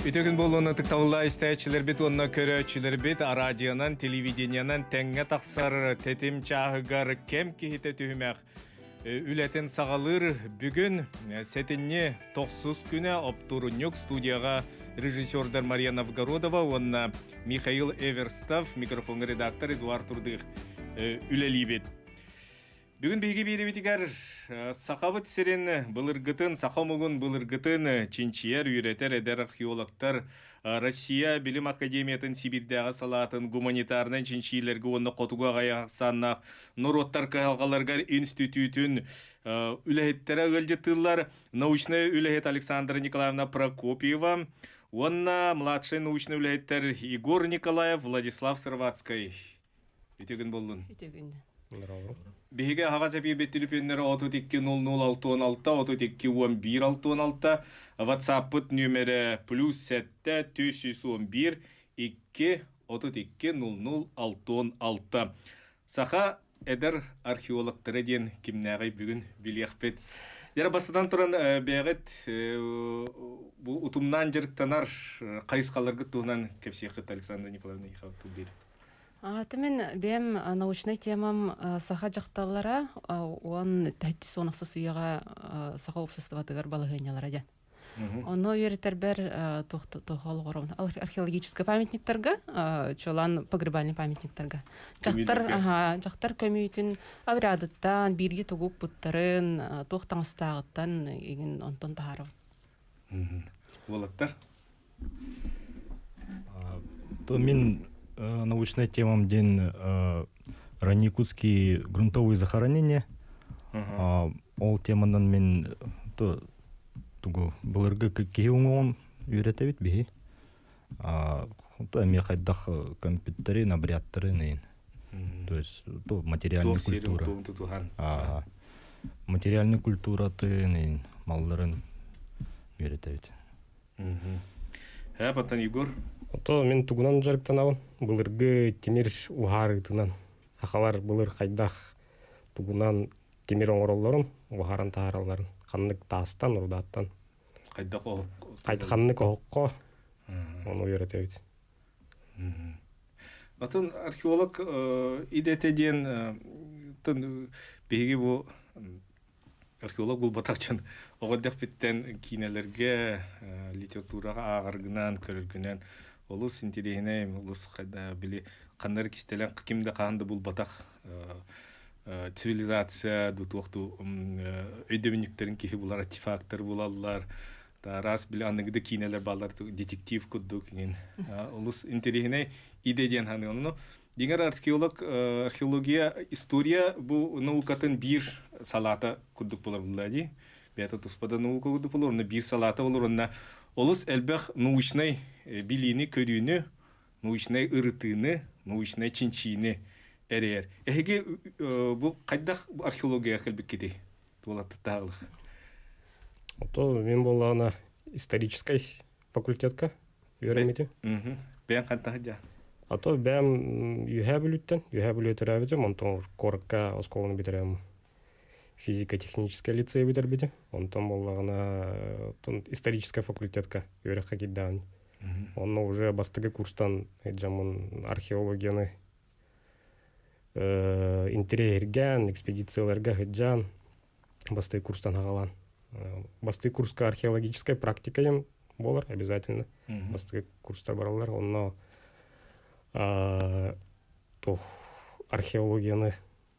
Үтүгүн буолуон ытыктабылла истээччилэрбит уонна көрөөччүлэрбит араадьыйанан, телевидениенан тэҥҥэ тахсар тэтим чааһыгар кэм киһитэ түһүмэх үлэтин саҕалыыр бүгүн сэтинньи тохсус күнэ оптурунньук студияҕа режиссердар Марьяна Вгородова уонна Михаил Эверстов микрофон редактор Эдуард Турдых үлэлиибит Бүгүн биһиги биирибитигэр Сахабыт сирин былыргытын, саха омугун былыргытын чинчийэр, үөрэтэр эдэр археологтар Россия Билим Академиятын Сибиирдээҕи салаатын гуманитарнай чинчиилэргэ уонна хотугу аҕай ахсааннаах норуоттар кыһалҕаларыгар институтун үлэһиттэрэ ыалдьыттыыллар научнай үлэһит Александра Николаевна Прокопьева уонна младшай научнай үлэһиттэр Егор Николаев, Владислав Сырватский. Итигин буллун. Итигин. Биһиги аһаҕас эпиирбит телефоннары отут икки нөл нөл алтуон алта отут икки уон биир алтуон алта ватсаппыт нөмерэ плюс сэттэ түс сүүс он биир икки отут икки нөл нөл алтуон алта саха эдэр археологтара диэн кимнээҕий бүгүн билиэхпит Яра бастатан туран бэйэҕит бу утумнаан дьарыктанар хайысхаларгыт туһунан кэпсиэххит Александр Николаевна Ехавтыл Аата мин бэйэм э, научнай темам э, саха дьахталлара э, уон тэттис уон ахсыс үйэҕэ саха уопсастыбатыгар балаһыанньалара дьэн. Онно үөрэтэрбэр туох олоҕор археологическай памятниктарга, чолан погребальный памятниктарга. Дьахтар дьахтар көмүүтүн аврядыттан биирги тугук путтарын туох таҥастааҕыттан игин онтон таһарып. Уолаттар то мин научной темам ден ранникутские грунтовые захоронения ол теманан мен то тугу былыргы киһи уҥуоҕун үөрэтэбит биһи эми хайдах компьютери набряттарын ин то есть материальный культура материальный культуратын ин малларын үйрөтөбүт э паттан егор ото мин тугунан дьарыктанабын былыргы тимир уһаарытынан сахалар былыр хайдах тугунан тимир оҥороллорун уһааран таһааралларын ханнык таастан рудааттан хайдах ханнык оһоххо ону үөрэтэбит атын археолог идэтэ диэн биһиги бу археолог булбатахчын оҕо эрдэхпиттэн киинэлэргэ литератураҕа ааҕаргынаан көрөргүнэн олус интириэһинэй олус били ханнары кистэлэҥ ким да хаһан да булбатах цивилизация до туох ту өйдөбүнньүктэрин киһи булар артефактор булаллар араас били аныгыда киинэлэр балар детектив курдук ин олус интеллигентный идея диэн ханыан ну дигар археолог археология история бу наукатын бир салата курдук болар булла ди бета туспада наука курдук болор биир салата болор онна олус элбэх научный билиини көрүүнү научнай ырытыыны, научнай чинчиини эрийэр. Эһиги бу хайдах археологияҕа кэлбиккитий? Туолаттаах То мин боллаана историческай факультетка үөрэммитим. Бэйэн хантах дьа? А то бэм үһэ бүлүттен, үһэ бүлөтөрөөбүтүм, онтон куоракка осколаны бүтөрөм физико-технический лицей бүтэрбитим, онтон боллагына исторический факультетка үөрөххэ кирдаан Онно уже бастакы курстан дьоммун археологияны интэриэһиргээн, экспедицияларга сылдьаан, бастакы курстан аҕалан. Бастакы курска археологическай практикайым буолар обязательно. Бастакы курстар бараллар. Онно туох археологияны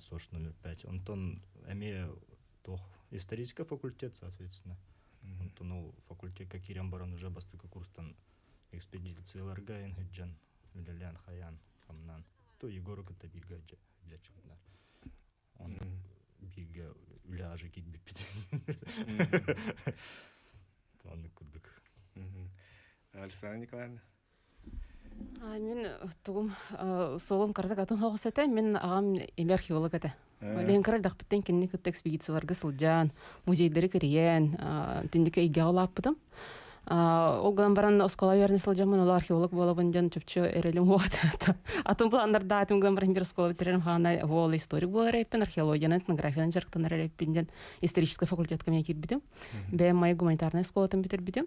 СОШ 05. Онтон эмиэ туох исторический факультет, соответственно. Онтон ол факультетка киирэн баран уже бастакы курстан экспедицияларга эн сылдьан үлэлээн хайаан хамнаан то Егору кытта бииргэ дьаччыппынар. Онон бииргэ үлэ аже киирбиппит. Маннык курдук. Александра Николаевна? Мин тугум суолум кыратык атын соҕус этэ. Мин аҕам имэ археолог этэ. Лен кыра эрдэхпиттэн кинини кытта экспедицияларга сылдьан, музейдары кэрийэн, итинник эйгэҕэ улааппытым. Ол гынан баран оскуола үөрэнэ сылдьаммын ол археолог буолабын диэн чопчу эрэлим атын планнардаатым гынан баран бир оскуола бүтэрэн хаана уол историк буолар эрээппин археологиянан этнографиянан дьарыктанар эрээппин диэн историческай факультетка миэ киирбитим. Бэйэм майа гуманитарнай оскуолатын бүтэрбитим.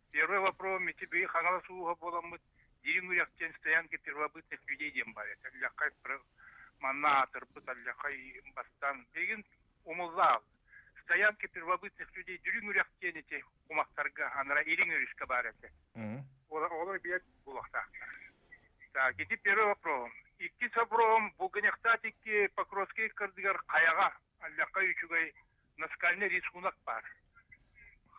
Первый вопрос, Мичидыи Хаҥалас ууһа буоламмыт, Дириҥ Үрэх диэн стоянка первобытных людей диэн баар этэ. Өллэххай манна аатырбыт Аллехай бастаан билигин умуллаал. Стоянки первобытных людей Дириҥ Үрэх диэн ити кумахтарга анара Ирин Үрүскэ баар этэ. Олар билет булахтаахтар. Так, ити первый вопрос. Иккис вопрос, бу гынехтаат икки Покровский кырдыгар Хаяга Аллякка үчүгэй наскальнай рисунок баар.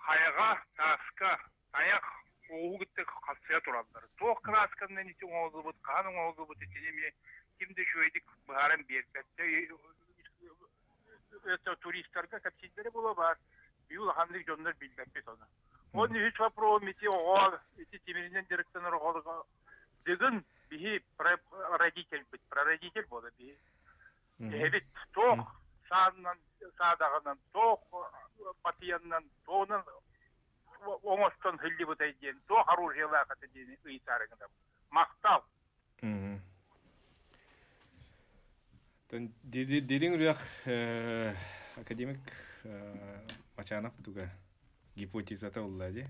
Хайаҕа, тааска, тайах, ууһу кытта хапсыйа тураллар. Туох красканан ити оҥоһуллубут, хаһан оҥоһуллубут итини эмиэ ким да үчүгэйдик быһааран биэрбэттэ. Туристарга кэпсииллэрэ була баар. Биир улаханнык дьоннор билбэппит оны. Он үһүс вопрос ити оҕо ити тимиринэн дьарыктанар оҕолорго дыгын биһи родитель бит прародитель буола биһи Эһэбит туох саанынан, саадаҕынан, туох патиянынан, туонан оҥостон сылдьыбытай диэн туох оружиелаах этэ диэни ыйытаарыҥ да махтал. Дириҥ үрэх академик Мачанов туга гипотезата улла ди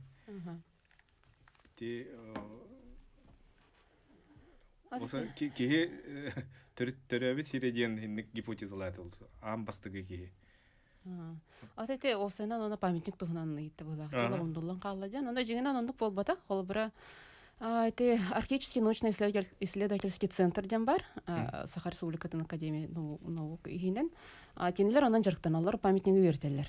Киһи төрөөбүт сирэ диэн инник гипотезалаат аан бастакы киһи. Ата те осынан ана памятник туһунан ыйытты булах. Лондонлан калла жан. Анда жигинан ондук болбатак, холбура те археологический научно-исследовательский центр ден бар. Сахар Республикатын Академия наук иһинен. Тенелер анан жарыктаналар памятниги бертеллер.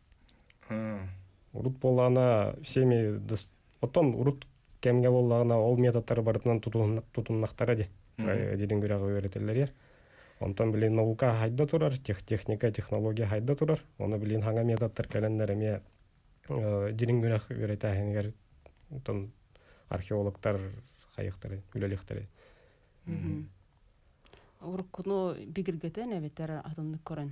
урут буоллаҕына всеми оттон урут кэмҥэ буоллаҕына ол методтар барытынан тутуннахтара дии эдилин күрэҕи үөрэтэллэр онтон билин наука хайда турар техника технология хайда турар оны билин хаҥа методтар кэлэннэр эмиэ дилин күрэх үөрэтээһинигэр археологтар хайыхтары үлэлиэхтэрэ уруккуну бигиргэтэн эбэтэр атыннык көрөн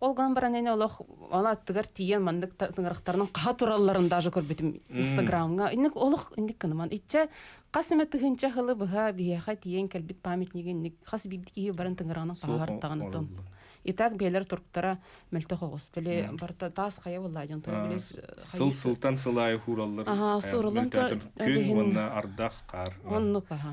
Ол гынан баран эн олох ол аттыгар тиийэн маннык тыҥырахтарынан хаха туралларын даже көрбүтүм Инстаграмҥа. Инник олох инник кыныман. Иччэ хас эмэ тыһыынча хылы быһа биһиэхэ тиийэн кэлбит памятнига инник хас биирдик киһи баран тыҥыраҕынан таһаартаҕын отон. Итак биэлэр туруктара мөлтөх оҕус. Биле барта таас хайа болла дьон тура биле сыл сылтан сыл аайы хуураллар. Аха, суураллан то күн уонна ардах хаар. Оннук аха.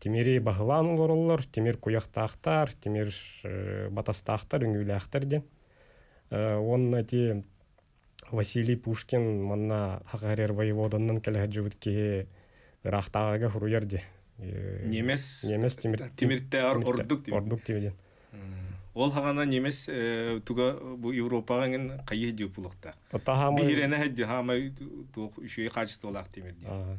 Тимири баһылаан олороллор, тимир куйахтаахтар, тимир батастаахтар, үҥүүлээхтэр диэн. Уонна ити Василий Пушкин манна ХХРР воеводанынан кэлэ сылдьыбыт киһи ыраахтааҕыга суруйар диye. Немес немес тимир тимиртэ ордук тимир ордук тимир диэн. Ол хагана немес туга бу Европаҕа эҥин хайы диу булуохта. Биһирэнэ һэдди хаамай туох үшөй качестволаах тимир диэн.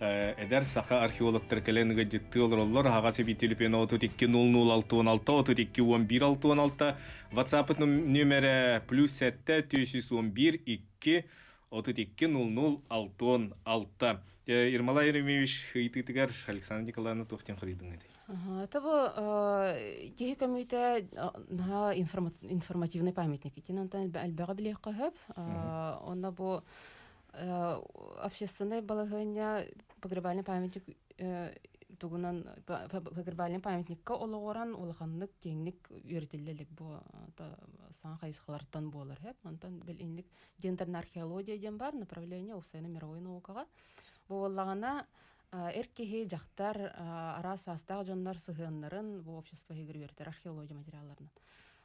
эдэр саха археологтар кэлэн ыгаддьыттыы олороллор аһаҕас эбиитилипен отут икки нөл нөл алты он алта отут икки он биир алты он алта ватсаппыт нөмерэ плюс сэттэ тиэс үс он биир икки отут икки нөл нөл алты он алта Ирмала Еремеевич ыйытыытыгар Александр Николаевна туохтан хоруйдуҥ этэй? Того киһи көмүтэ наһаа информативный памятник итин антан элбэҕи билиэх қөһөп онно бу общественнай балаһыанньа погребальнай памятник тугунан погребальнай памятникка олоҕуран улаханнык киэҥник үөрэтиллэ илик бу саҥа хайысхалартан буолар хэп онтон билинник гендерная археология диэн бар направление устайна мировой наукаҕа бу буоллаҕына эр киһи дьахтар араас саастаах дьоннор сыһыаннарын бу общество иһигэр үөрэтэр археология материалларынан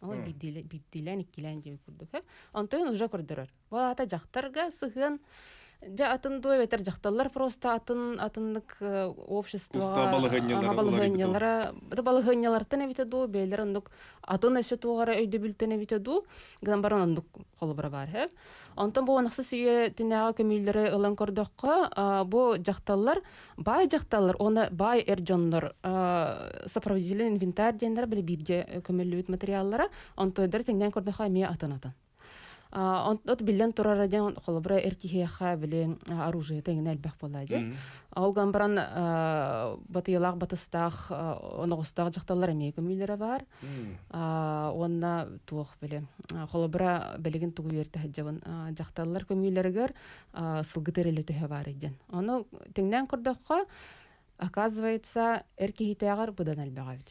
Ол биирдиилээн, иккилээн диэн курдук. Онтон уже көрдөрөр. Бу аата дьахтарга сыһыан дьэ атын дуу эбэтэр дьахталлар просто атын атыннык общество балаһыанньалара балаһыанньалартан эбитэ дуу бэйэлэр оннук атын өссө туох эрэ өйдөбүлтэн эбитэ дуу гынан баран оннук холобура баар Онтон бу онахсыс үйэтинээҕи көмүүллэри ылан көрдөххө, бу дьахталлар баай дьахталлар уонна баай эр дьоннор сопроводитель инвентарь диэннэр били бииргэ көмүллүбүт материаллара онтойдар тиҥнээн көрдөхө эмиэ атын атын от биллэн турара дьон холобура эр киһиэхэ били оружиета иҥнэ элбэх буолла дьэ Ол ган баран батыйалаах батыстаах оноҕустаах дьахталлар эмиэ көмүүлэрэ баар. Уонна туох били холобура билигин тугу үөртэ сылдьабын дьахталлар көмүүлэригэр сылгы тэрилэ төһө баар дьэн. Ону тиҥнээн көрдөххө, оказывается, эр киһитээҕэр быдан элбэҕэ эбит.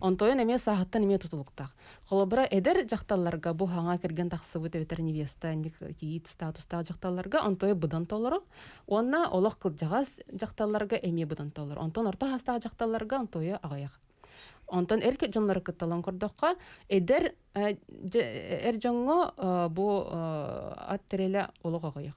Онтойон эмиэ сааһыттан эмиэ тутулуктаах. Холобура, эдэр дьахталларга бу хаҥа кэргэн тахсыбыт эбэтэр невеста никиит статустаах дьахталларга онтойо быдан толору уонна олох кылдьаҕас дьахталларга эмиэ быдан толору. Онтон орто саастаах дьахталларга онтойо аҕыйах. Онтон эр дьоннору кытталан көрдөххө, эдэр эр дьоҥҥо бу ат тэрилэ олох аҕыйах.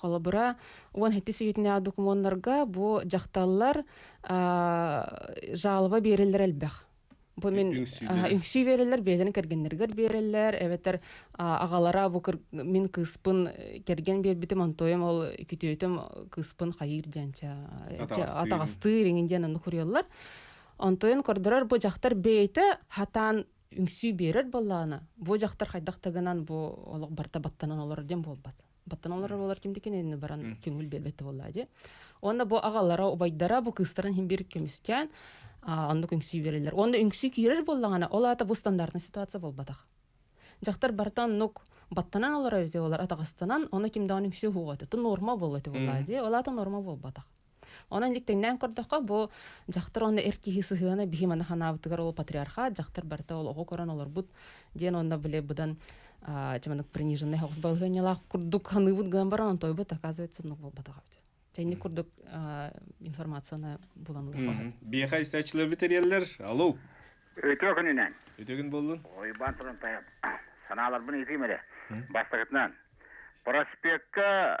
холобура уон һэттис үйэтинээҕи докумуоннарга бу дьахталлар жалоба биэрэллэр элбэх бу мин үҥсүү биэрэллэр бэйэлэрин кэргэннэригэр биэрэллэр эбэтэр аҕалара бу мин кыыспын кэргэн биэрбитим антоем ол күтүөтүм кыыспын хайыыр диэн атаҕастыыр иҥин диэн аны куруйаллар онтойон көрдөрөр бу дьахтар бэйэтэ хатаан үҥсүү биэрэр буоллаҕына бу дьахтар хайдах да гынан бу олох барыта баттанан олорор диэн буолбат баттанан олорор буолар ким да кинини баран көҥүл биэрбэттэ буоллаа дии уонна бу аҕалара убайдара бу кыыстарын иһин бир көмүскээн оннук үҥсүү биэрэллэр уонна үҥсүү киирэр буоллаҕына ол аата бу стандартный ситуация буолбатах дьахтар барыта оннук баттанан олорор эти олар атаҕастанан оны ким даҕаны үҥсүү уһуоҕа этэ норма буолла этэ буоллаа дии ол аата норма буолбатах Онон иликтиҥнээн көрдөххө, бу дьахтар уонна эр киһи сыһыана биһи маны ханаабытыгар ол патриархат, дьахтар барыта ол оҕо көрөн олорбут диэн уонна били быдан чаманык приниженный соҕус балаһыанньалаах курдук ханыыбыт гынан баран онтойбут оказывается ну буолбатаҕа эбит Чэнник курдук информацияны булан ылыахха Биэхэ истээччилэр бүтэриэллэр. Алло. Өтөкүнүнэн. Өтөгүн боллун. Ойбан турун тайап. Санааларбын ыытыым эрэ. Бастакытынан. Проспекка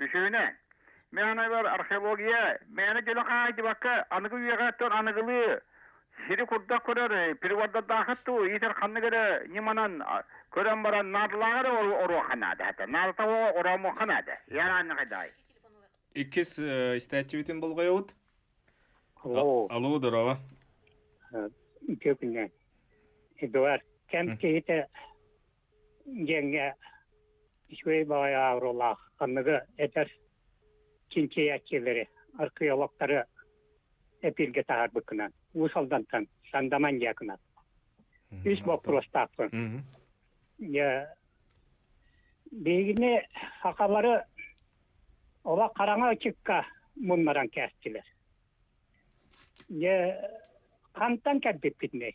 Үсүһүнэ, миэнэбэр археология мээнэ дьөлө хаайдыбакка аныгы үйэҕэттэн аныгылыы сири курдак көрөр прибордардаахыт дуу иитэр ханнык эрэ ньыманан көрөн баран наадалааҕар оруоха наада хата наадата ороомуха наада ярааннахайдаай иккис истээччибитин болғойобут алло алло здорово күннэ эдуард кем киһитэ диэҥҥэ үчүгэй баҕайы аавырылаах ханныгы этэр чинчийээччилэри археологтары эпиргэ таһаарбыккынан уус алдантан сандаман диакынан үс боппуруостаахпын биһигини акалары ола хараҥа ычыкка муннаран кээстилэр дьэ хантан кэлбиппитинэй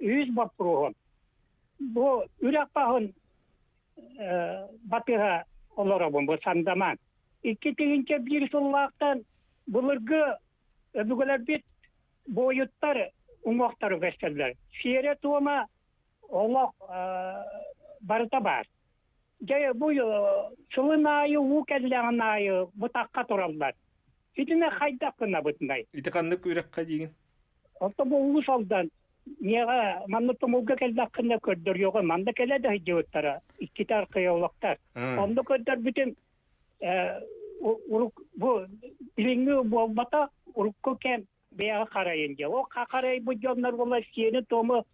үһүс боппуруоһун бу үрэх таһын батыһа олоробун бу сандаман икки тыһыынча биир сыллаахтан былыргы өбүгэлэрбит буойуттар уҥуохтара көстөллөр сиэрэ туома олох барыта баар Дьэ, бу сылын аайы уу кэллэҕин аайы бытахха тураллар. Итини хайдах гынабытынай? Ити ханнык үрэххэ диигин? Орто бу улус алдан миэҕэ маннык тумулга кэллэххинэ көрдөрүөҕү манна кэлэ да сылдьыбыттара иккитэ археологтар. Онно көрдөрбүтүм урук бу билиҥҥи буолбата урукку кэм бэйэҕэ харайын дьэ. Ол харайбыт дьоннор буолар сиэни-туому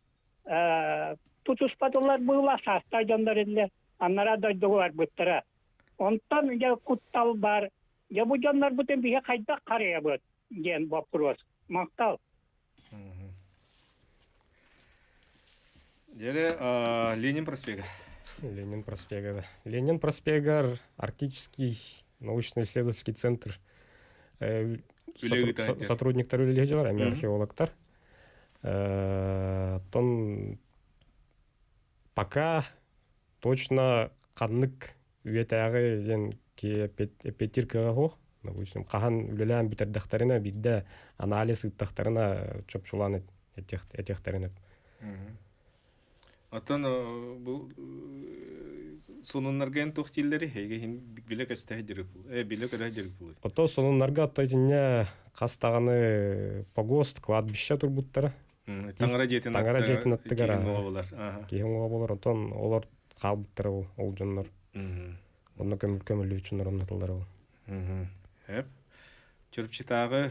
тутуспатылар быыла саастаах дьоннор иллэ аннараа дойдуга барбыттара онтон дьэ куттал баар дьэ бу дьоннорбутун биһи хайдах харыйабыт диэн боппуруос махтал Деле Ленин проспега. Ленин проспега, да. Ленин проспегар Арктический научно-исследовательский центр сотрудниктар үлэлиһиилэр, археологтар. Оттон пока точно ханнык үйэтээҕи диэн эпиэтиркаҕа суох допустим хаһан үлэлээн бүтэрдэхтэринэ биирдэ анализ ыыттахтарына чопчулаан этиэхтэринэ Оттон бу сонуннарга эн туох дииллэри эйгэ иһин билэ көстө сидирик э билэ көрө сидирик булуй ото сонуннарга отто итинне хас даҕаны погост кладбище турбуттара таңара дьиэтин таңара дьиэтин аттыгара болар киһи оңоҕо болар отон олор хаалбыттара ол ол дьоннор онно көмөлүүчүннөр оннатыллара ол эп чурупчутааҕы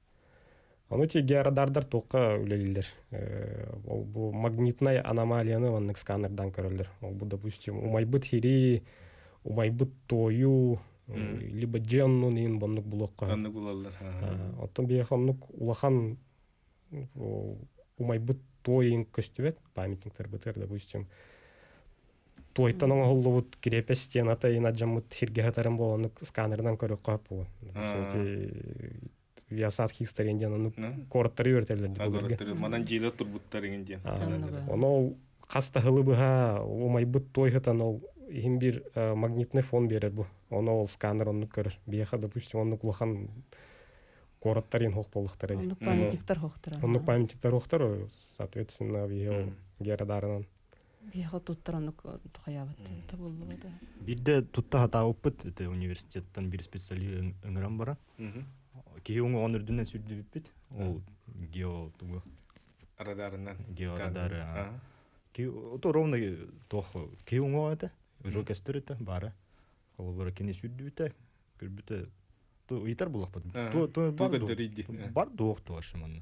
Ону тигиарадардар туохха үлэлииллэр? Бу магнитнай аномалияны маннык сканердан көрөллөр. Ол допустим, умайбыт хири, умайбыт тою, либо дженнун иин боннук булуохха. Оннук булаллар. Оттон биһиэхэ оннук улахан умайбыт той иин көстүбэт памятниктар бытыар, допустим, туойтан оҥоһуллубут крепость стен ата иһин адьаммыт сиргэ сытарын буоланнык сканерынан көрүөххэ сөп Виасат Хистарин диэн ону корттары үөрэтэллэр. Манан дьиилэр турбуттар иҥин диэн. Оно хас таһылы быһа умайбыт той хытан ол иһин бир магнитный фон берер бу. Оно ол сканер оннук көрөр. Биэха допустим оннук улахан короттар ин хох болуктар. Оннук памятниктар хохтар. Оннук памятниктар хохтар соответственно биһи герадарынан Биһиэхэ туттаран буллубут. Бирде тутта хатаабыппыт это университеттан бир специалист ыҥыран бара. Киһи оҥоҕон үрдүнэн сүрдүбүппүт. Ол гео тугу радарынан георадары ки ото ровно тох ки оңоҕо это уже кестерите бара холобура кини сүрдүбүтэ көрбүтэ то ыйтар буллахпыт бар дуох туашманна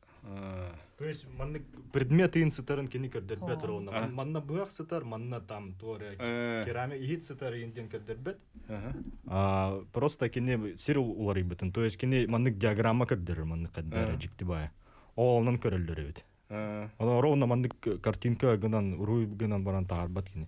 То есть маннык предмет ыйын сытарын кини көрдөрбөт ронно. Манна быах сытар, манна там туора керамия иһит сытар ыйын диэн көрдөрбөт. Просто кини сир уларыйбытын. То есть кини маннык диаграмма көрдөрөр маннык каддара жиктибая. Олонан көрөлдөр эбит. Олор онна маннык картинка гынан уруй гынан баран таарбат кини.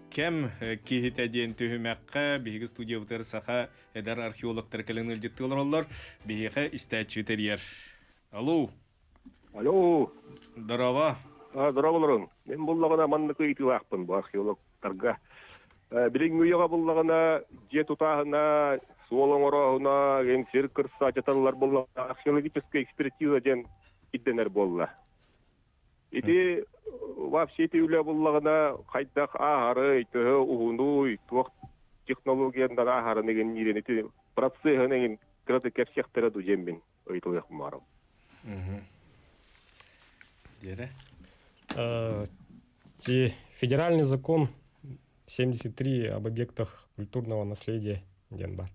кем киһитэ диэн түһүмэххэ биһиги студиябытыгар саха эдэр археологтар кэлэн ыалдьыттыы олороллор биһиэхэ истээччи тэрийэр алло алло здорово здорово олорун мен буллаҕына маннык ыйытыылаахпын бу археологтарга билиҥҥи үйэҕэ буллаҕына дьиэ тутааһына суол оҥорооһуна ген сир кырса дьаталлар буллаҕына археологическай экспертиза диэн ирдэнэр буолла Ити вообще ити үлэ буллаҕына хайдах ааһары, төһө уһунуй, туох технологияннара аһарын игин иирин ити процессын эҥин кыраты кэпсиэхтэрэ дужеммин ыйтылыах маарым. Диэре. Ти федеральный закон 73 об объектах культурного наследия диэн бар.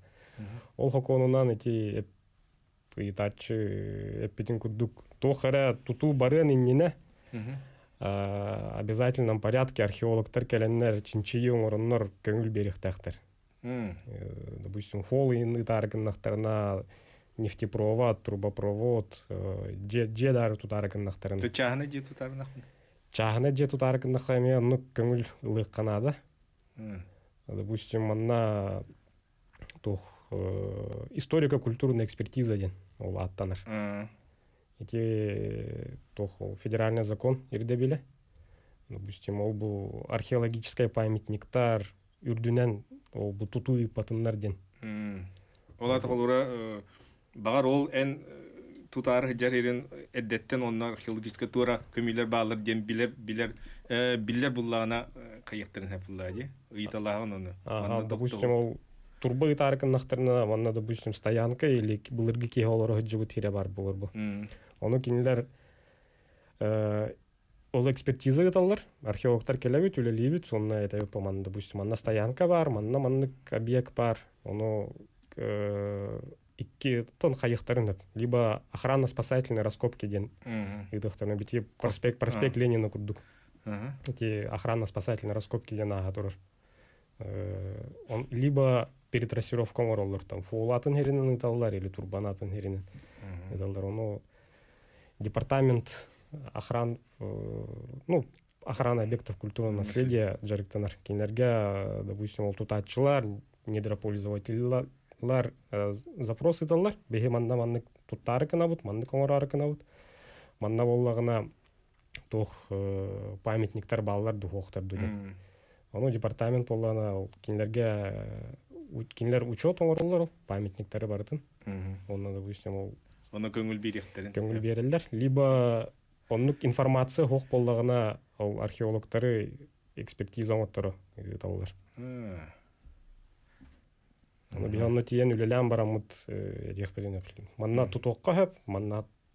Ол хоконунан ити ыйытааччы эппитин курдук туох эрэ тутуу барыан иннинэ обязательном порядке археологтар кэлэннэр чинчийии оҥороннор көҥүл биэриэхтээхтэр допустим фол ыйын ытаары гыннахтарына нефтепровод трубопровод дьиэ даары тутаары гыннахтарына чааһына дьиэ тутаарынахпын чааһына дьиэ тутаары гыннахха эмиэ оннук көҥүл ылыахха наада допустим манна туох историко-культурная экспертиза диэн ол ааттанар ити туох ол федеральный закон ирдэбилэ допустим ол бу археологическай памятниктар үрдүнэн ол бу тутуу ыйпатыннар диэн ол атах олура Баҕар ол эн тутаары сылдьар ирин эрдэттэн онно археологическая туора көмүүлэр бааллар диэн билэр билэр биллэр буллаҕына кайыктарын хапыллаа дии ыйыталааҕын ону допустим ол турба ыытаары кыннахтарына манна допустим стоянка или былыргы киһи олоро сылдьыбыт сирэ бар буолар бу ону кинилэр Ол экспертиза ыыталлар, археологтар кэлэбит, үлэлиибит, сонно этэбит, манна, допустим, манна стоянка баар, манна маннык объект баар, ону икки тон хайыхтарын өп, либо охранно-спасательные раскопки диэн ыытыахтарына бити проспект проспект Ленина курдук эти охранно-спасательные раскопки диэн ааха турар либо перетрасировка оҥороллор там фуол атын иһиринэн ыыталлар или турбан атын иһиринэн ыыталлар ону департамент охран ну охрана объектов культурного наследия дьарыктанар кинилэргэ допустим ол тутааччылар недропользователлар запрос ыыталлар биһи манна маннык туттаары кынабыт маннык оҥороору кынабыт манна буоллаҕына туох памятниктар бааллар духуохтар дуде ону департамент буоллаана ол кинилэрге кинилэр учет оҥороллор ол памятниктары барытын онно допустим ол оны көңүл биэриэхтэрин көңүл биэрэллэр либо оннук информация уһук боллаҕына ол археологтары экспертиза оҥотторо ыыталлар аны бии онно тиийэн үлэлээн бараммыт диэхпитин манна тутуохха сөп манна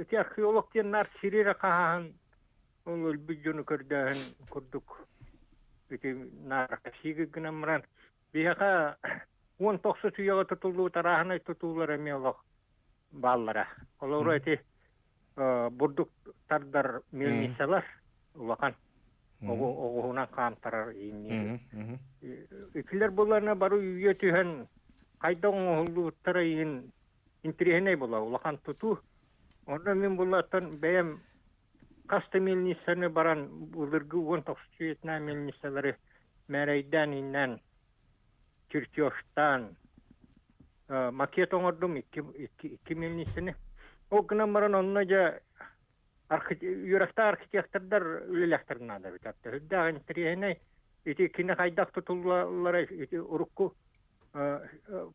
Ити археолог диэн наар сири эрэ хаһаһан өлбүт дьону көрдөөһүн курдук ити наркосига гынан баран биһиэхэ уон тохсут үйэҕэ тутуллубут арааһынай тутуулар эмиэ олох бааллара олору ити бурдук тардар мельницалар улахан оҕуһунан хаамтарар иннии итилэр буларына бары үйэ түһэн хайда оҥоһуллубуттара иһин интэриэһинэй буолар улахан тутуу онно мин буллаттан бэйэм хас да милицианы баран былыргы уон тохсутуйатына милициялары мээрэйдээн иннэн чертежтаан макет оҥордум икки икки милицияны ол гынан баран онно дьэ Үөрөхтөөх архитектордар үлэлээхтэрин наада эбит. Үрдээх интэриэһинэй. Ити кини хайдах тутуллаллара ити урукку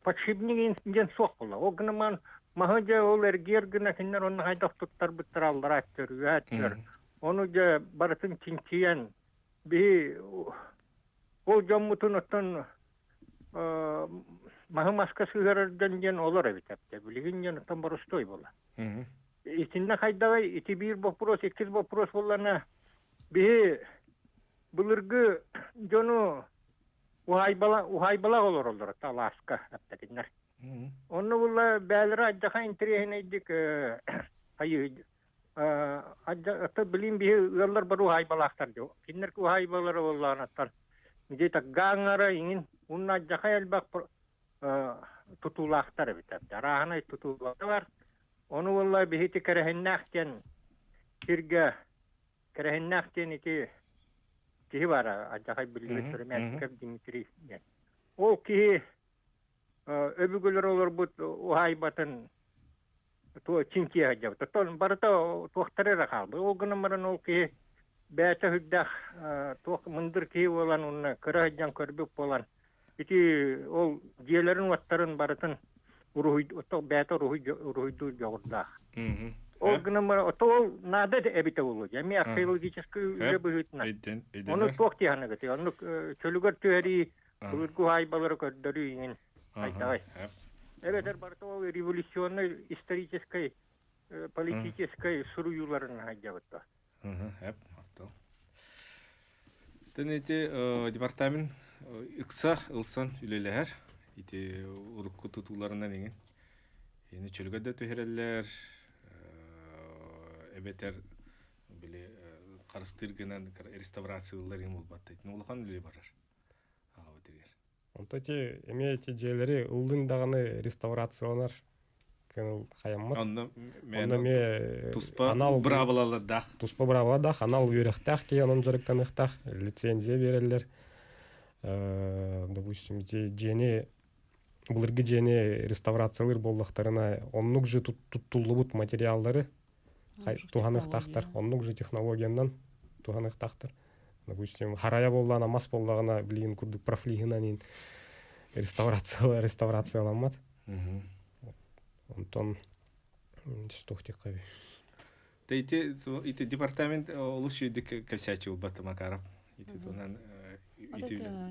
подшипник диэн суох буолла. Ол гынан маһы дьэ ол эргиэр гына кинилэр онно хайдах туттарбыттара аллара аттөр, аттөр. Ону дьэ барытын чинчийэн биһи ол дьоммутун оттон маһы маска сыһыарардан диэн олор эбит апта билигин диэн оттон борустуой була итиннэ хайдаҕай ити биир боппуруос иккис боппуруос буллана биһи былыргы дьону уһайбала уһайбалах олороллор талааска аптакиннар онно булла бээлера аддаха интириэһинэйдик хайыы билим биһи ыаллар бар уһаайбалаахтар дьо киннер уһаайбалара боллаанаттар дитак гаангара иҥин унна жаха элбак тутуулаахтар эбитер арааһынай тутуулары бар ону болла биһити кэрэһиннээх диэн сирге кэрэһиннээх диэн ити киһи бара ажахай билими сөрөмәтиков дмитрий диэн ол киһи өбүгэлэр олорбут уһаайбатын туо чинчийэ сылдьабыт оттон барыта туохтара эрэ хаалбыт ол гынан баран ол киһи бэйэтэ сүрдээх туох мындыр киһи буолан уонна кыра сылдьан көрбүт буолан ити ол дьиэлэрин уоттарын барытын уруһуйдуур бэйэтэ уруһуйдуур дьоҕурдаах ол гынан баран ото ол наада эбитэ буолуо дьэ эмиэ археологический үлэ быһыытынан ону туох диэххэ оннук чөлүгэр түһэрии Былыргы уһаайбалары көрдөрүү иҥин хайдаҕый? Эбэтэр барыта ол революционнай историческай, политическай суруйууларын хайдьабыт да? Тэн ити департамент ыкса ылсан үлелэһэр. Ити урукку тутууларынан иҥин. Ини чөлгө да түһэрэллэр, эбэтэр били харыстыыр гынан реставрациялар иҥ улбаттайт. Улахан үле барар. аҕабытыгар онто ити эмиэ ити дьиэлэри ыллыҥ даҕаны реставрацияланар кэнэл хайаммыт онно онно эмиэ туспа анал быраабылалардаах туспа быраабыладаах анал үөрэхтээх киһи онон дьарыктаныахтаах лицензия биэрэллэр допустим ити дьиэни былыргы дьиэни реставрациялыыр буоллахтарына оннук же туттуллубут материаллары туһаныахтаахтар оннук же технологиянан туһаныахтаахтар допустим харайа буоллаҕына мас буоллаҕына блин курдук профлиһынан реставрация реставрацияламмат онтон что хотеххаби ити ити департамент олус үйдік косячил баты макаров ити тонан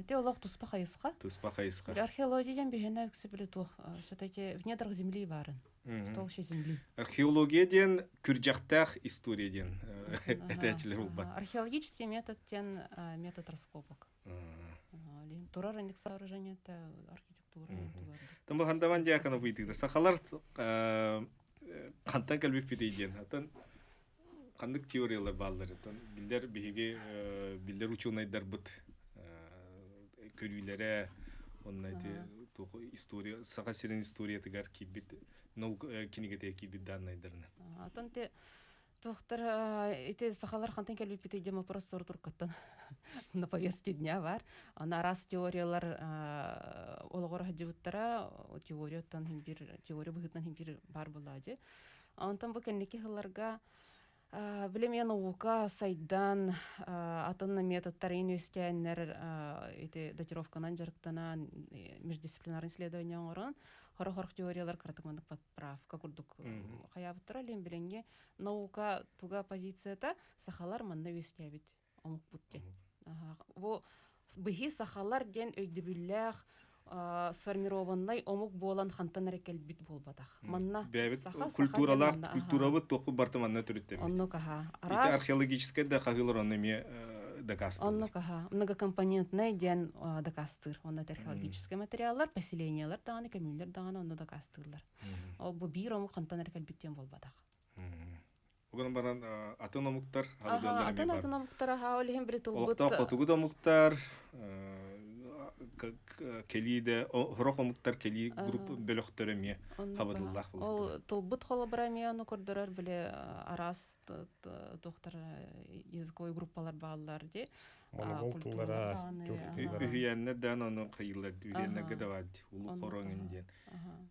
те олох туспа хайысқа туспа хайысқа археология бихена үксі биле туох все-таки в недрах земли барын Кто вообще земли? Археология диэн күрдьэхтээх история диэн этээчилэр булбат. Археологический метод тен метод раскопок. Турар индек сооружениета архитектура тугар. Там хандаван диакана быйтыгда. Сахалар хантан кэлбиппитей диэн. Атын ханнык теориялар баалларытын биллэр биһиги биллэр учуонайдарбыт көрүүлэрэ онно эти история саха сирин историятыгар киирбит наука кинигэтигэр киирбит дааннайдарына атын те Тухтар ити сахалар хантан кэлбиппитий диэн вопрос сор туркаттан на повестке дня бар. Ана раз теориялар олоҕор хаджыбыттара теорияттан хим бир теория быһыттан хим бир бар булаажы. Онтон бу кэнники сылларга билими наука сайдан атын методтарын үөскээннэр ити датировканан дьарыктанан междисциплинарный исследование оҥорон хорох хорох теориялар кыратык маннык поправка курдук хайаабыттара лин билинги наука туга позицията сахалар манна үөскээбит оҥоппут диэн. Бу быһыы сахалар диэн өйдөбүллээх сформированнай омук буолан хантан эрэ кэлбит буолбатах. Манна саха культуралаах культурабыт туохпут барта манна төрүттэбит. Оннук аха. Араас археологическай да хаһыылар онно эмиэ дакаастыыр. Оннук аха. Многокомпонентнай диэн дакаастыыр. Онно археологическай материаллар, поселениелар даҕаны, көмүүллэр даҕаны онно дакаастыыллар. Бу биир омук хантан эрэ кэлбит диэн буолбатах. Ол гынан баран атын омуктар атын атын омуктар аха ол иһин били тылбыт олохтоох хотугу да омуктар кэлииде хорох омуктар кэлии групп бөлөхтөрө эмиэ хабадыллаах ол тылбыт холобура эмиэ ону көрдөрөр били араас тухтар языковой группалар бааллар ди моногол тыллара үһүйэннэр даан ону кыйыллар үһүйэннерге да бар ди улуу хороҥ диэн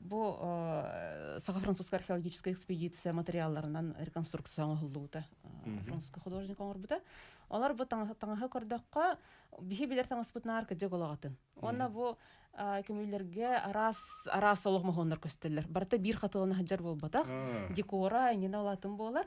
Бу саха-французская археологическая экспедиция материалларынан реконструкция оҥоһуллубута. Французскай художник оҥорбута. Олар бу таҥаһы көрдөххө, биһи билэр таҥаспытынаар кыдьык олоҕатын. Уонна бу көмүллэрге араас араас олох моһоннар көстөллөр. Барыта биир хатылана сылдьар буолбатах. Декора иннинэ олатын буолар.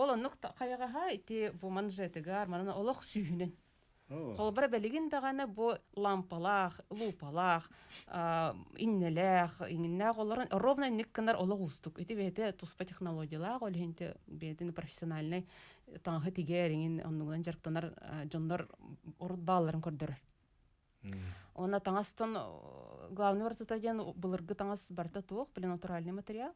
Ол оннук хайаҕаһа ити бу манжетыгар манан олох сүүһүнэн. Холобура билигин даҕаны бу лампалаах, луупалаах, иннэлээх, иҥнээх олорон ровно инник гынар олох уустук. Ити бэйэтэ туспа технологиялаах, ол иһин бэйэтин профессиональнай таҥаһы тигэр иҥин оннугунан дьарыктанар дьоннор урут баалларын көрдөрөр. Онно таҥастан главный ортата диэн былыргы таҥас барыта туох блин натуральный материал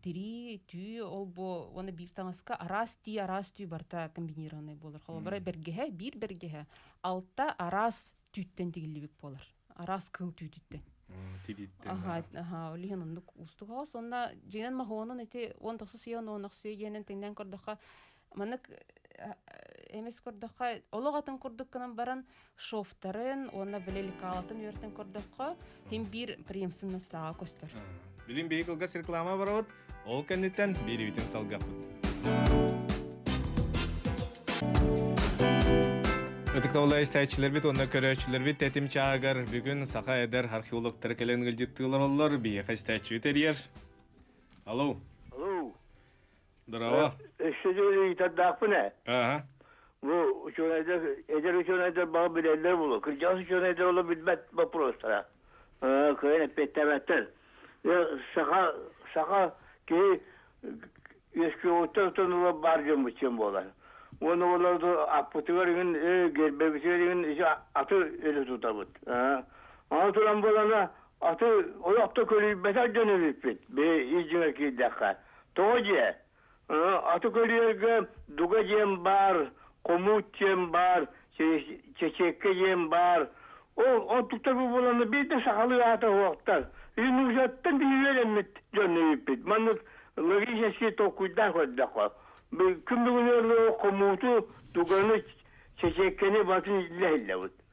тирии түү олбу уонна биир таҥаска араас тии араас түү барыта комбинированный буолар холобура бэргэһэ биир бэргэһэ алта араас түүттэн тигиллибит буолар араас кыл түүтүттэн тирииттэн аха аха ол иһин оннук уустук хаҕас онно дьиэнэн махуонун ити он тахса сүйэ он тахса сүйэ генен тиҥнээн көрдөххө Маннык эмис курдукка олох атын курдук гынан баран шофтарын уонна били лекалатын үөртен курдукка хим биир приемсыннастааҕа көстөр. Билим бейкылгас реклама барабыт, ол кэнниттэн бииривитин салгаппыт. Ытыктабыла истээччилэрбит уонна көрөөччүлэрбит тэтим чаагар бүгүн саха эдэр археологтары кэлэн ылдьыттыылар оллор биһиэхэ истээччи терьер. Алло. Алло. Здорово. ыйытардаахпын ээ. Ааһа. Бу учуонайдар, эдэр учуонайдар баҕа билэллэр буолуо. Кырдьаҕас учуонайдар олох билбэт боппуруостара. кыайан эппиэттээбэттэр. Саха, саха киһи үөскүөҕүттэн отон ыла баар дьоммут син буолар. Уонна олорду аппытыгар иҥин, гербэбитигэр иҥин ити аты өлө тутабыт. Аны туран буолана, Аты олохто көлүйбэтэх дьон эбиппит. Били ис дьиҥэр киирдэххэ. Тоҕо дьиэ? Аты көлүйэргэ дуга диэн баар, хомуут диэн баар, чэчиэккэ диэн баар. Ол онтуктар бу буоланна биир да сахалыы аата суохтар. Ити нуучаттан биһиги үөрэммит дьон эбиппит. Маннык логический толкуйдаах көрдөххө. Күн бүгүнү хомууту, дуганы, чэчиэккэни батын иллэһиллэбит.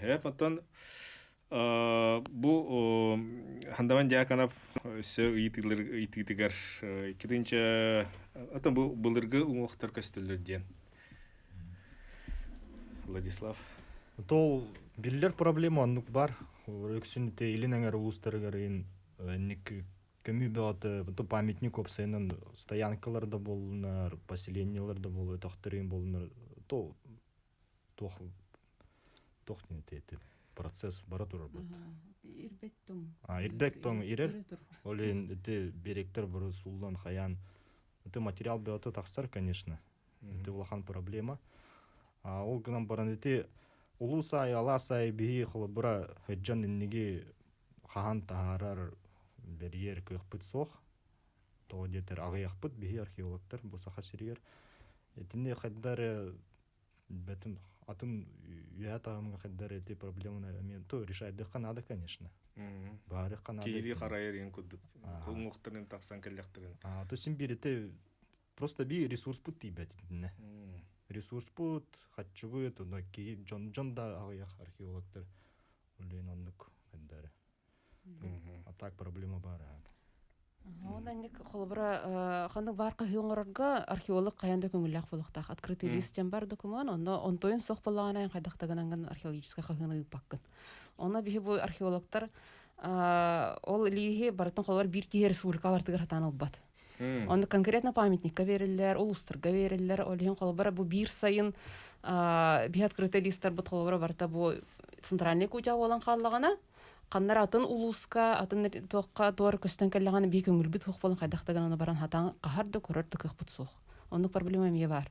Һэп оттон бу Хандаван Дьяконов өссө ыйытыылар ыйытыытыгар иккитинчэ оттон бу былыргы уҥуохтар көстөллөр диэн Владислав Тол биллер проблема оннук бар Өксүн илин эңэр улуустарыгар инник көмүү бөҕөтө ту памятник уопсайынан стоянкалар да буоллунар поселениелар да буолуо тохторин буоллунар то туох туох диэнтэй этим процесс бара турарбыт ирбэт тоҥ а ирбэк тоҥ ирэр ол иһин ити беректер бары сууллан хайаан ити материал бөҕөтө тахсар конечно ити улахан проблема а ол гынан баран ити улуус аайы алаас аайы биһи холобура сыдьан инниги хаһан таһаарар бэрийэр кыахпыт суох Тоҕо диэтэр аҕыйахпыт биһи археологтар бу Саха сиригэр итини хайда эрэ билбэтим атын үйэ таһымга хайда эрэ ити проблеманы эмиэ то решайдыахха наада конечно баарыхха наада киһилии харайар иһин курдук уҥуохтарын тахсан кэллэхтэрин а то син биирити просто би ресурспут тиийбэт итиннэ ресурспут хаччыбыт дьон дьон да аҕыйах археологтар үлээн оннук хайдары А так проблема баар Ол анник холобура ханнык баар кыһыы оҥорорго археолог хайан да көҥүллээх буолуохтаах открытый бар бар документ онно онтойун сох боллаҕынан хайдахтагынан археологическай хаһыыны ыыппаккын онно биһи бу археологтар ол илиихи барытын холобур биир киһи республика бартыгар хатаан ылбат Онно конкретно памятникка бериллэр, улустарга бериллэр. Ол иһин холобура бу биир сайын би открытый листарбыт холобура барта бу центральный кутя болан хааллагана. Каннар атын улуска, атын туохка туор көстөн кэллэҕана би көңүлбүт хух болан хайдахта гана баран хатан кахар да көрөр да кыхпыт суох. Оннук проблема эмиэ бар.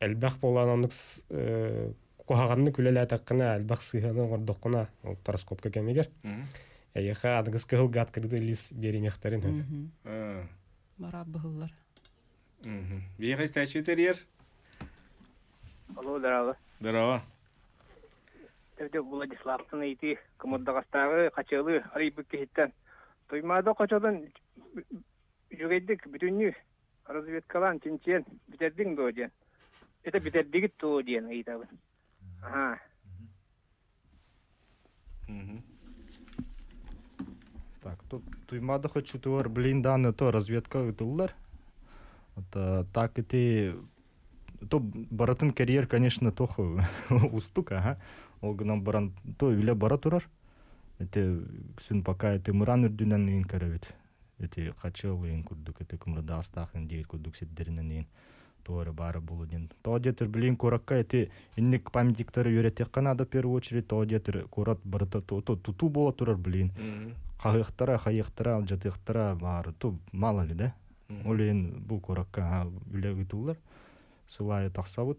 элбэх буолаан оннук куһаҕаннык үлэлээтэххинэ элбэх сыһыаны оҥордоххуна ол гороскопка кэмигэр эйиэхэ аныгыс кыһылгаат кырдыы лиис биэриниэхтэрин сөп бараап быһыллар биэҕэ истээччи тэрийэр Алло, дараава. Дараава. Төрдүк Владиславтын ыйытыы кымырдаҕастааҕы хачыалы арыйбыт киһиттэн Туймаада хочолон жүгэйдик бүтүннүү разведкалаан чинчиэн бүтэрдиҥ дуо диэн это бүтэрдигит дуо диэн ыйытабын аhaa Так, тут туймада хочутуар блин данный то разведка ытыллар. Так ити то баратын карьер, конечно, тоху устук, ага. Ол гынан баран то үле бара турар. Эте сүн пока эти мыран үрдүнен үйін карабет. ити хачыалыын курдук ити кымырдаастаах диир курдук сирдэринэн иин туора баара булу диэн то диэтир билин куоракка эти инник памятниктары үөрэтиэххэ наада в первую очередь то диэтир куорат барыта тутуу буола турар билин хаһыахтара хайыахтара жатыахтара баары ту мало ли да олен бу куоракка үлэ ыытыллар сылайы тахсабыт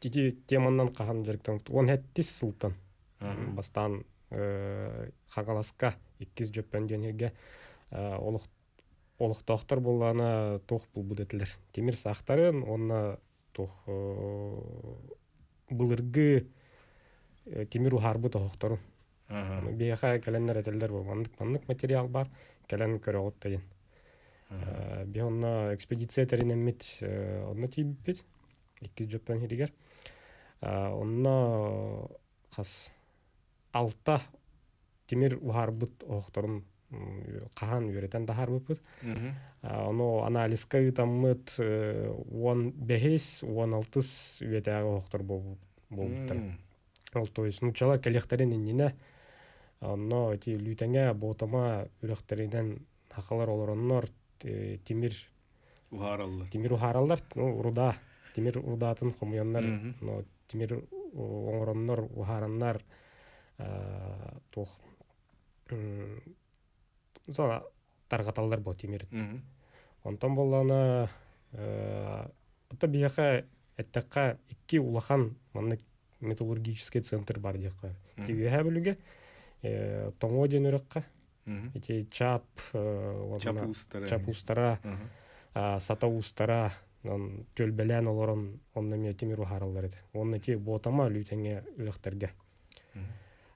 ити теманан хаһан дьарыктан уон хэттис сылтан бастаан хагаласка иккис дьөппөн диэн сиргэ олох олохтоохтор буоллаана туох булбут этилэр тимир саахтарын уонна туох былыргы тимир уһаарбыт оһохторун биһиэхэ кэлэннэр этэллэр бу маннык маннык материал бар кэлэн көрөҕүт дайын биһи онно экспедиция тэринэммит онно тиийбиппит иккис дьоттон хиригэр онно хас алта тимир уһаарбыт оһохторун хаһан үөрэтэн таһаарбыппыт ону анализка ыытаммыт уон бэһис уон алтыс үйэтээҕи оһохтор буолбуттара ол то есть нууччалар кэлиэхтэрин иннинэ онно ити лүүтэҥэ буотама үрэхтэринэн хахалар олороннор тимир уһаараллар тимир уһаараллар ну руда тимир рудаатын хомуйаннар но тимир оҥороннор уһаараннар туох мысалы тарҕаталлар бу тимир онтон боллана ото биһиэхэ эттэххэ икки улахан маннык металлургический центр бар диэххэ үөһээ бүлүгэ тоҥуо диэн үрэххэ ити чап чапустара чапустара сата устара түөлбэлээн олорон онно эмиэ тимир уһаараллар ити уонна ити буотама өлүү тэҥэ өлөхтөргө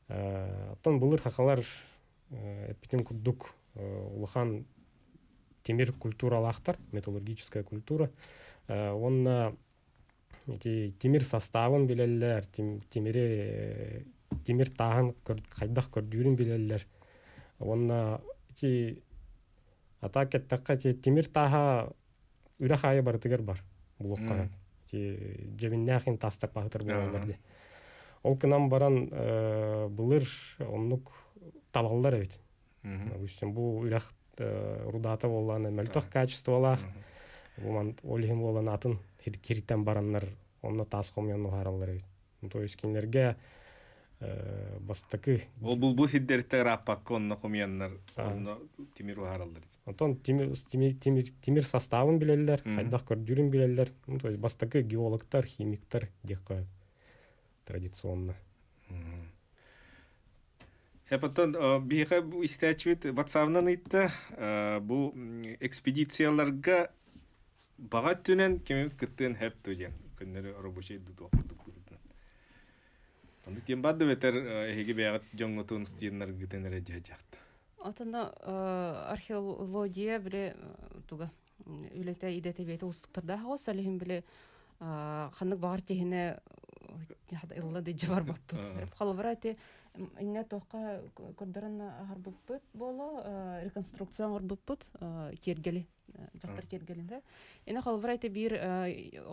оттон былыр хахалар эппитим курдук улахан тимир культуралаахтар металлургическая культура уонна Ити тимир састаабын билэллэр, тимири тимир тааһын хайдах көрдүүрүн билэллэр уонна ити а так эттэххэ ити тимир тааһа үрэх аайы барытыгар бар блокка ити дьэбиннээх иһин таастарпаһытар буолаллар дии ол гынан баран былыр оннук талаллар эбит Допустим, бу үрэх рудата буоллаан мөлтөх качестволаах. Буман ол иһин буолан атын хиртэн бараннар онно таас хомуйан уһаараллар эбит. То есть кинилэрге бастакы ол бу бу хирдериттэ ырааппакка онно хомуйаннар онно тимир уһаараллар оттон тимир тимир тимир тимир составын билэллэр хайдах көрдүүрүн билэллэр то есть бастакы геологтар химиктар диэх традиционно Эпотон биһиэхэ бу истээччибит ватсаабынан ыйтта бу экспедицияларга баҕа өттүнэн кими кыттыан хэпту диэн көннөрү рабочий дутуох курдук курдун Аны тем бадды бетер эһиги бэҕит дьоҥҥутун студеннаргытын эрэ дьаһдьахт. Атына археология бре туга үлэтэ идэтэ уустуктардаах оҕо салиһин били ханнык баҕар киһини ылла дыйдьа барбаппыт холобура ити инне тохха көрдөрөн аһарбыппыт буоло реконструкция оҥорбуппут киэргели дьахтар киэргэлинэ ина холобура ити биир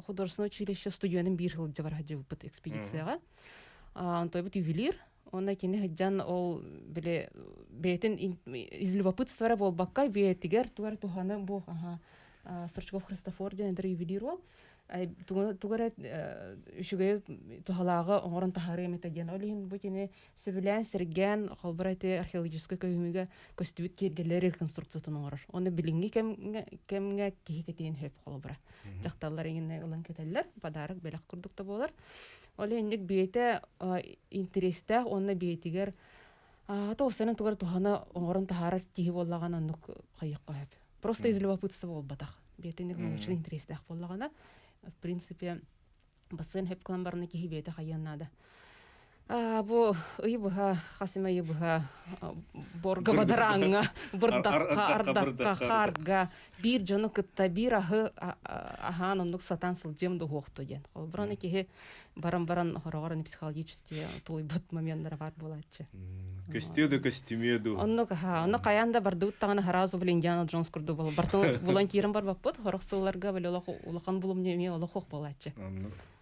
художественное училище студенын биир сылдьа бар хаджыбыппыт экспедицияга онтойбут ювелир Онно кини сыдьан ол били бэйэтин из любопытства буолбакка бэйэтигэр тугар туханы бу Стручков Христофор диэн интервьюлируо тугу эрэ үчүгэй туһалааҕы оҥорон таһаарыам этэ диэн ол иһин бу кини сөбүлээн сэргээн холбура ити археологическай көһүмүгэ көстүбүт киэргэлэр реконструкциятын оҥорор оны билиҥҥи кэмҥэ кэмҥэ киһи кэтиэн сөп холобура дьахталлар иҥинэ ылан кэтэллэр подарок бэлэх курдук да буолар Ол инник бэйэтэ интэриэстээх уонна бэйэтигэр аата осанын тугар туһана оҥорон таһаарар киһи буоллаҕына оннук хайыахха сөп. Просто из любопытства буолбатах. Бэйэтинник научный интерестээх буоллаҕына, в принципе, бассаан хөп кылан барана киһи бэйэтэ хайыан наада. А бу ый быһа хас эмэ ый быһа борга бадарааҥҥа бырдахха ардакка хаарга биир дьону кытта биир аһы аһаан оннук сатаан сылдьыам да уһуохту диэн холобура аны киһи баран баран хороҕор аны психологически тулуйбут моменнара баар буолааччы көстүө да көстүмүө дуу оннук аха ону хайаан да бардыбыт даҕаны сразу блин индиана джонс курдук волонтерын волонтерын барбаппыт хорох сылларга били олох улахан булумньу эмиэ олох уох буолааччы оннук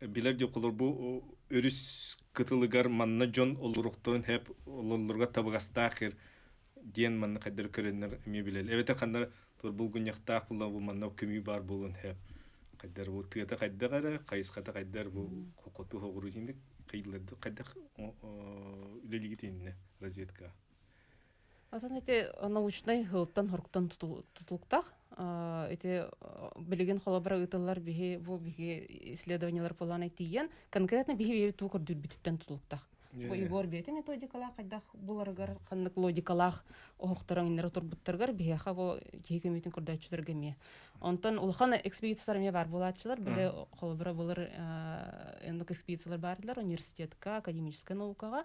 билэр дьокулор бу өрүс кытылыгар манна дьон олоруохтарын хэп ололлорго табыгастаахыр диэн манна хайдары көрөннөр эмиэ билэл эбэтэр ханна турбулгунньахтаах була бу манна көмүү баар буолун хэп хайдар бу тыата хайдах эрэ хайысхата хайдар бу хокоту хоҕуру инник қыйлларды хайдах үлелигит инне разведка Атын ити научнай һылтан-хоруктан тутулуктах. Ити билигин холобура ыытыллар биһи бу биһи исследованиялар поланай тиийэн конкретно биһи туу көрдүрбүтүттэн тутулуктах. Бу Егор бэйэтэ методикалаах хайдах буларыгар ханнык логикалаах оһохторон иннер турбуттаргар биһиэха бу киһи көмүтүн көрдөөччүлөргө эмиэ. Онтон улахан экспедициялар эмиэ бар булааччылар били холобура булар эндок экспедициялар баардылар университетка академическай наукаға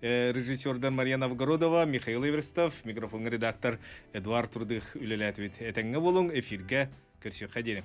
режиссердар Мария Новгородова, Михаил Эверстов, микрофоҥҥа редактор Эдуард Турдых үлэлээтибит. Этэҥҥэ буолуҥ, эфиргэ көрсүөххэ диэни.